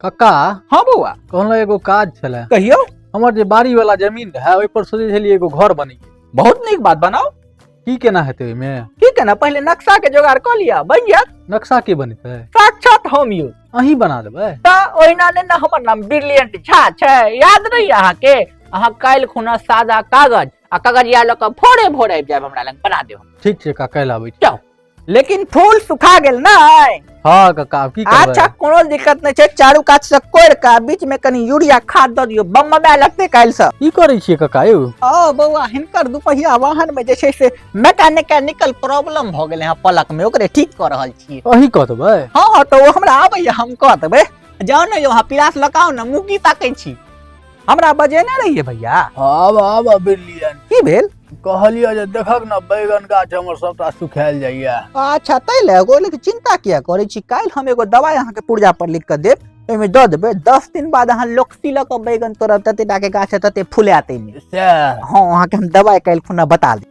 कक्का हाँ बौआ कहलहुँ एगो काज छलै कहियो हमर जे बाड़ी वाला जमीन रहै ओहि पर सोचे छलियै एगो घर बनी बहुत नीक बात बनाओ की केना हेतै ओहिमे ठीक है ना पहले नक्शा के जोगाड़ कर लिया बन गया नक्शा के बनेतै साक्षात हम यू अहीं बना देबै त ओहिना ने ना हमर नाम ब्रिलियंट झा छै याद नहीं अहाँ के अहाँ काल्हि खुना सादा कागज आ कागजिया लऽ कऽ भोरे भोरे आबि जायब हमरा लग बना देब ठीक छै कक्का काल्हि आबै छी। जाउ लेकिन फूल सुखा गेल ना हाँ काका अब की करबै अच्छा कोनो दिक्कत नहीं छै चारू कात से कोड़ के बीच में कनी यूरिया खाद दऽ दियो बम में लगते काल्हि से की करै छियै काका यौ ओ बौआ हिनकर दुपहिया वाहन में जे छै से मैकेनिकल प्रॉब्लम भऽ गेलै हँ पलक में ओकरे ठीक कऽ रहल छियै अही कहबै हाँ तऽ ओ हमरा आबैया हम कऽ देबै जाउ ने यौ अहाँ पिलास लगाउ ने मुँह की ताकै छी हमरा बजेने रहिए भैया आब आब बिल्लियन की भेल कहलियो जे देखक न बैगन गाछ हमर सबटा सुखायल जाइए अच्छा तै ले एगो लेकिन चिंता किया करै छी काल्हि हम एगो दवाई अहाँके पुर्जा पर लिख कऽ देब ओहिमे दऽ देबै दस दिन बाद अहाँ लोकसी लऽ कऽ बैगन तोड़ब तते टाके गाछ तते फुलायत एहिमे सएह हँ अहाँके हम दवाई काल्हि खुना बता देब